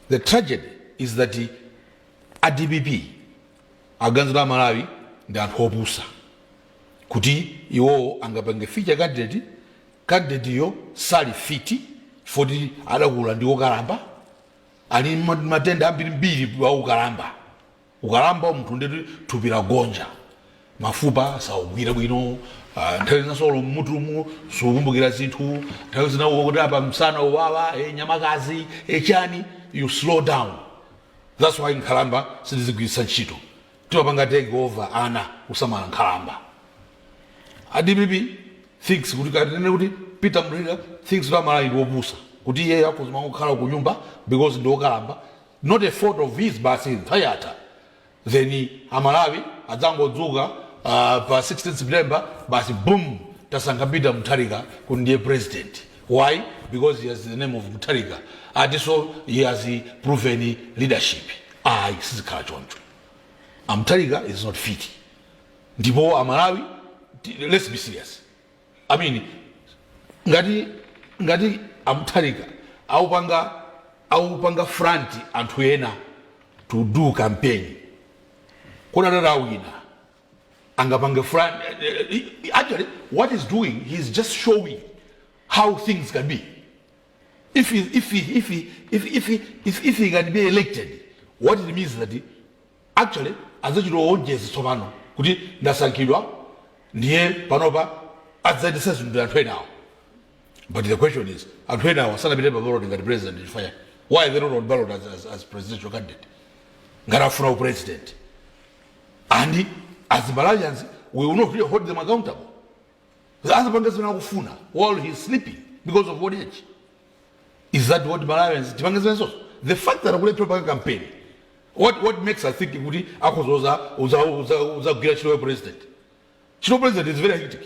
the tragedy is that a dpp akuganiza amalawi ndi anthu opusa kuti iwowo angapange feature candidate candidate yo sali fiti foti adakula ndi okalamba ali ma- matenda ambirimbiri a ukalamba Ukalamba munthu ndiye kuti thupi lagonja, mafupa saugwira bwino, ah, nthawi zina so olo mmutumu sukumbukira zinthu, nthawi zina ukuti apa msana uwawa, eh, nyamakazi, eh, chani, you slow down. That's why nkhalamba sitizigwiritsa ntchito. Timapanga take over ana kusamala nkhalamba. ADPP thinks kuti kaya tinene kuti Peter Mutharika thinks kuti amalawi ndi opusa kuti iye akuzima kukhala ku nyumba because ndi okalamba not a fault of his basi nthawi yatha then amalawi adzangodzuka uh, pa 16 september basi boom tasankha peter mutharika kuti ndiye president why because he has the name of mutharika akutinso he has proven leadership ayi sizikhala choncho amutharika is not fit ndipo amalawi ti- let's be serious I mean, ngati ngati amutharika aupanga aupanga front anthu ena to do campaign kodi atati awina angapange front eh, eh, eh, actually what is doing he is just showing how things can be if he, if he, if he, if, if, he, if, if he can be elected what it means that Actually adzachita oonjeza tsopano kuti ndasankhidwa ndiye panopa adzayendetsa zinthu ndi anthu enawa but the question is anthu enawa sanapite pa ballot ngati president chifukwa chani? why they not on ballot as, as, as presidential candidate ngati afuna upresident and as Malawians we will not really hold them accountable azapange zimene akufuna while he is sleeping because of old age is that what malawians tipange zimenezo the fact that akulephera panga campaign what, what makes us think kuti akhoza kuzagwira ntchito ya president ntchito ya president is very hectic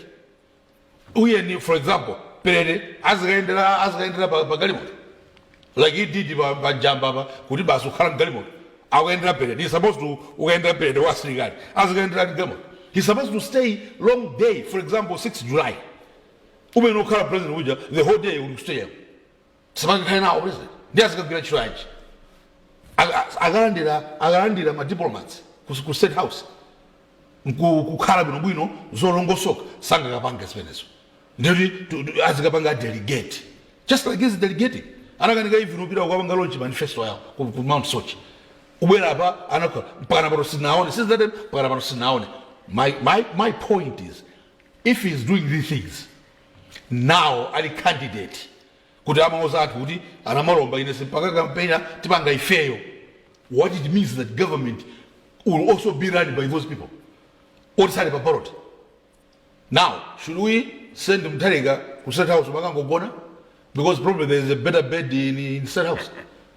uyeni for example perete azikayendera azikayendera pa pa galimoto like he did pa pa jamba pa kuti basi ukhala mgalimoto akuyendera perete he supposed to ukayendera perete wa asilikali azikayendera mgalimoto he supposed to stay long day for example 6 july umene ukhala president uja the whole day uli kustadium sangakhale nawo president ndi azikagwira ntchito yanji Aka- akalandira akalandira ma diplomats ku- ku state house nku- kukhala bwinobwino zolongosoka sangakapange zimenezo ndikuti tu- tu- azikapanga delegate just like he's delegating anakanika even upita kukapanga launch manifesto yawo ku, ku mount soche ubwera apa anakhala mpakana pano sitinaone sizate mpakana pano sitinaone my, my, my point is If he is doing these things now ali candidate kuti amauza anthu kuti anamalomba ine simpanga kampena tipanga ifeyo what it means that government will also be run by those people oti sali pa ballot now should we send mtharika ku state house makangogona because probably there is a better bed in, in state house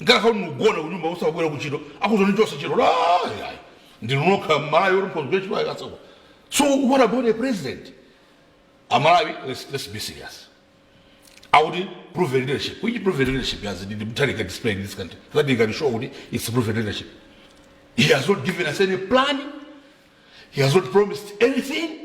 mungakhale kuti mugona kunyumba osakubwera kuntchito akuzoni chonse ntchito ayi ndinu nokha mmalawi oti mphonzi kuntchito ayi asako so what about a president amalawi let's, let's be serious akuti proven leadership which proven leadership has the mutharika display in this country that he can show kuti it's proven leadership he has not given us any plan he has not promised anything